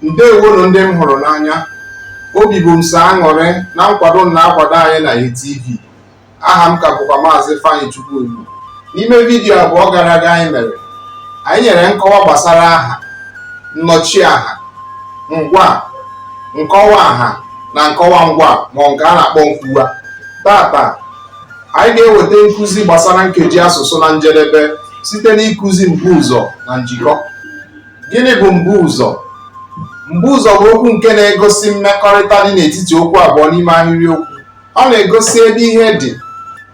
ndewonu ndị m hụrụ n'anya obi bụ m sọ aṅụrị na nkwado unu na-akwado anyị na ATV aha m ka bụkwa maazị Ifeanyi Chukwuegbu n'ime vidiyo abụọ gara aga anyị mere anyị nyere nkọwa gbasara aha nnọchiaha ngwa nkọwa aha na nkọwa ngwa ma nke a na-akpọ nkwuwa tata anyị ga-eweta nkụzi gbasara nkeji asụsụ na njedebe site n'ịkụzi mbuụzọ na njikọ Gịnị bụ mbuụzọ? Mbuụzọ bụ okwu nke na-egosi mmekọrịta dị n'etiti okwu abụọ n'ime ahịrịokwu. Ọ na-egosi ebe ihe dị,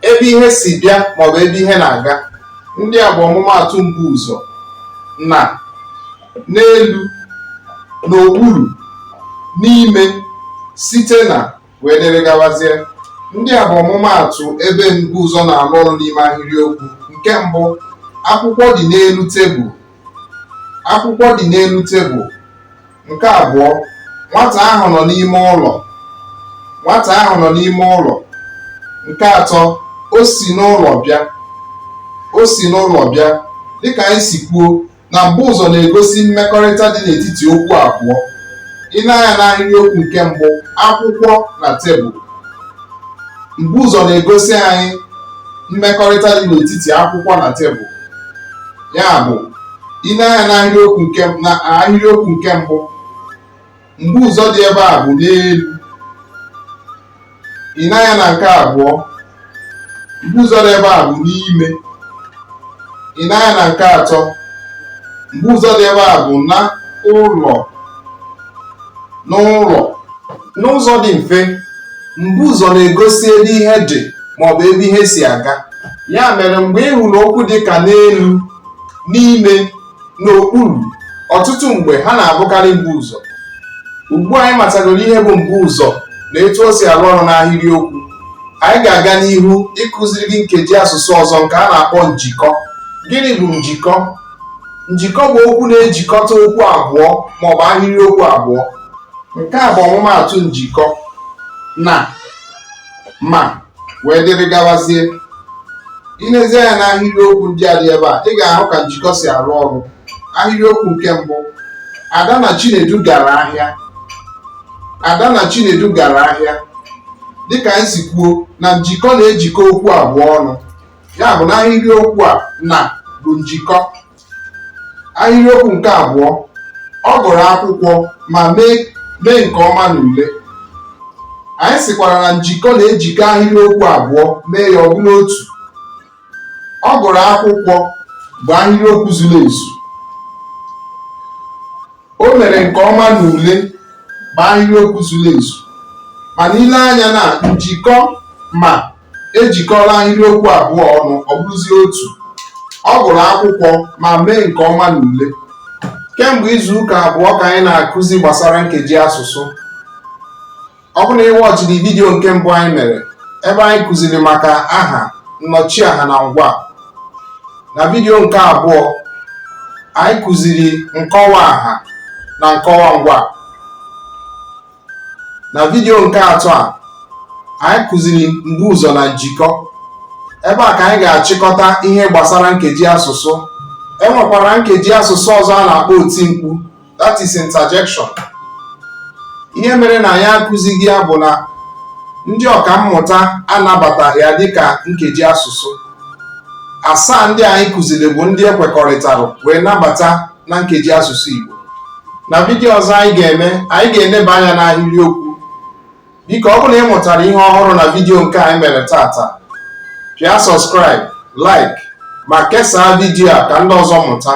ebe ihe si bịa maọbụ ebe ihe na-aga. Ndị a bụ ọmụmaatụ mbuụzọ na, n'elu, n'okpuru, n'ime, site na, wee dịrị gawazie. Ndị a bụ ọmụmaatụ ebe mbuụzọ na-arụ ọrụ n'ime ahịrịokwu. Nke mbụ, akwụkwọ dị n'elu tebụl. akwụkwọ dị n'elu tebụl nke abụọ nwata ahụ nọ n'ime ụlọ nwata ahụ nọ n'ime ụlọ nke atọ o si n'ụlọ bịa o si n'ụlọ bịa dịka anyị si kwuo na mbuụzọ na-egosi mmekọrịta dị n'etiti okwu abụọ i nee anya n'ahịrịokwu nke mbụ akwụkwọ na tebụl mbuụzọ na-egosi anyị mmekọrịta dị n'etiti akwụkwọ na tebụl ya bụ i nee anya n'ahịrịokwu nke mbụ mbuụzọ dị ebe a bụ n'elu i nee anya na nke abụọ mbuụzọ dị ebe a bụ n'ime i nee anya na nke atọ mbuụzọ dị ebe a bụ na ụlọ n'ụlọ n'ụzọ dị mfe mbuụzọ na-egosi ebe ihe dị maọbụ ebe ihe si aga ya mere mgbe ị hụrụ okwu dị ka n'elu n'ime n'okpuru ọtụtụ mgbe ha na-abụkarị mbuụzọ ugbu a anyị matagoro ihe bụ mbuụzọ na etu o si arụ ọrụ n'ahịrịokwu anyị ga-aga n'ihu ịkụziri gị nkeji asụsụ ọzọ nke a na-akpọ njikọ gịnị bụ njikọ Njikọ bụ okwu na-ejikọta okwu abụọ ma ọ bụ ahịrịokwu abụọ. Nke a bụ ọmụmaatụ njikọ na ma wee dịrị gawazie. I lezie anya n'ahịrịokwu ndị a dị ebe a, ị ga-ahụ ka njikọ si arụ ọrụ. Ahịrịokwu nke mbụ, Ada na Chinedu gara ahịa. Ada na Chinedu gara ahịa. Dịka anyị si kwuo na njikọ na-ejikọ okwu abụọ ọnụ. ya bụ na ahịrịokwu a na bụ njikọ ahịrịokwu nke abụọ ọ gụrụ akwụkwọ ma mee nke ọma n'ule anyị sịkwara na njikọ na-ejikọ ahịrịokwu abụọ mee ya ọ bụrụ otu ọ gụrụ akwụkwọ bụ ahịrịokwu zuru ezu o mere nke ọma n'ule bụ ahịrịokwu zuru ezu mana ile anya na njikọ ma ejikọla ahịrịokwu abụọ ọnụ ọ bụrụzie otu ọ gụrụ akwụkwọ ma mee nke ọma n'ule kemgbe izu ụka abụọ ka anyị na-akụzi gbasara nkeji asụsụ ọ bụrụ na ị wọchiri vidiyo nke mbụ anyị mere ebe anyị kụziri maka aha nnọchiaha na ngwa na vidiyo nke abụọ anyị kụziri nkọwa aha na nkọwa ngwa na vidiyo nke atọ a anyị kụziri mbuụzọ na njikọ ebe a ka anyị ga-achịkọta ihe gbasara nkeji asụsụ e nwekwara nkeji asụsụ ọzọ a na-akpọ oti mkpu that is interjection ihe mere na anyị akụzighị ya bụ na ndị ọkammụta anabataghị ya dịka nkeji asụsụ asaa ndị anyị kụziri bụ ndị e kwekọrịtara wee nabata na nkeji asụsụ Igbo na vidiyo ọzọ anyị ga-eme anyị ga-eleba anya n'ahịrịokwu biko ọ bụrụ na ị mụtara ihe ọhụrụ na vidiyo nke anyị mere tata pịa subscribe like ma kesaa vidiyo a ka ndị ọzọ mụta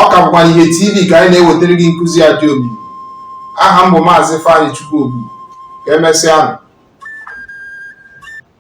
ọ ka bụkwa ihe tv ka anyị na-ewetara gị nkụzi a dị omimi aha m bụ maazị Ifeanyị Chukwuobu ka emesịa